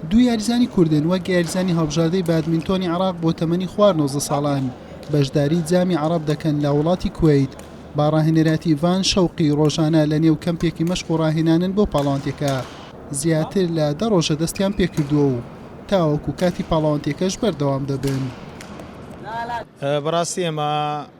دوو یاریزانی کوردن وەک یاریزانی هەڵبژاردەی بادمینتۆنی عراق بۆ تەمەنی خوار 19 ساڵان بەشداری جامی عرب دەکەن لە وڵاتی کویت با ڕاهێنەراتی ڤان شەوقی ڕۆژانە لە نێو کەمپێکی مەشق و ڕاهێنانن بۆ پاڵەوانتێکە زیاتر لە دە ڕۆژە دەستیان پێکردووە و تاوەکو کاتی پاڵەوانتێکەش بەردەوام دەبن. بەڕاستی ئێمە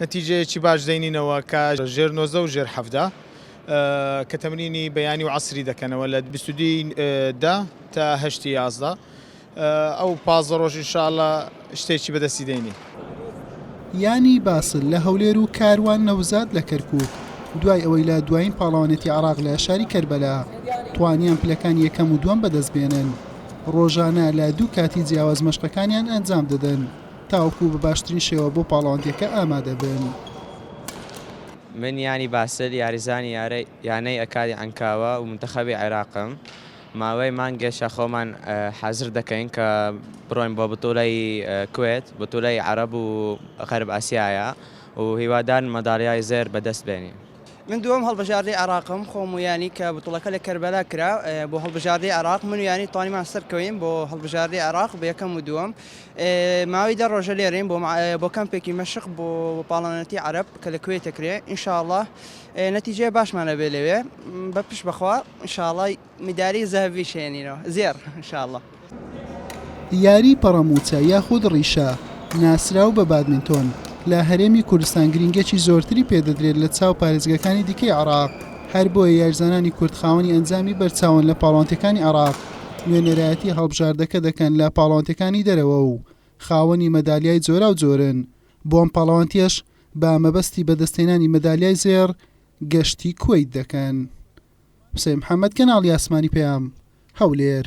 نەتیجەیەکی باش دەینینەوە کە ژێر نۆزدە و ژێر حەڤدە کە تەمرینی بەیانی و عەسری دەکەنەوە لە بیست و دوو ی دە تا هەشت ی یازدە ئەو پازدە ڕۆژ ان شاء اللە شتێکی بەدەستی دەینی. یانی باسل لە هەولێر و کاروان نەوزاد لە کەرکووک، دوای ئەوەی لە دوایین پاڵەوانێتی عێراق لە شاری کەربەلا توانیان پلەکانی یەکەم و دووەم بەدەستبێنن، ڕۆژانە لە دوو کاتی جیاواز مەشقەکانیان ئەنجامدەدەن. تاوەکو بە باشترین شێوە بۆ پاڵەوانتیەکە ئامادەبن. من یانی باسل یاریزانی یارە یانەی ئەکادی عەنکاوە و منتەخەبی عێراقم ماوەی مانگێشە خۆمان حازر دەکەین کە بڕۆین بۆ بتوڵەی کوێت بتوڵەی عەرەب و غەرب ئاسیایە و هیوادارن مەدالیای زێر بەدەست بێنین. من دووەم هەڵبژاردەی عێراقم خۆم و یانی کە بتوڵەکە لە کەربەلا کرا بۆ هەڵبژاردەی عێراق من و یانی توانیمان سەرکەوین بۆ هەڵبژاردەی عێراق بە یەکەم و دووەم ماوەی دە ڕۆژە لێرەین بۆ کەمپێکی مەشق بۆ پاڵەونەتی عەرەب کە لە کوێت دەکرێ ئینشاءاللە نەتیجەیە باشمان ئەبێ لەوێ بە پشت بەخوا ئینشاءاللە مداری زەهەڤی شێنینەوە زێڕ ئینشاءاللە. یاری پەڕەمووچە یاخود ڕیشە ناسراو بە بادمینتۆن لە هەرێمی کوردستان گرینگییەکی زۆرتری پێدەدرێت لە چاو پارێزگاکانی دیکەی عێراق، هەربۆیە یاریزانانی کورد خاوەنی ئەنجامی بەرچاون لە پاڵەوانتێکانی عێراق. نوێنەرایەتی هەڵبژاردەکە دەکەن لە پاڵەوانتەکانی دەرەوە و خاوەنی مەدالیای جۆراوجۆرن، بۆ ئەم پاڵەوانتیەش بە مەبەستی بەدەستهێنانی مەدالیای زێڕ گەشتی کوەیت دەکەن. حوسەین محەمەد، کەناڵی ئاسمانی پەیام، هەولێر.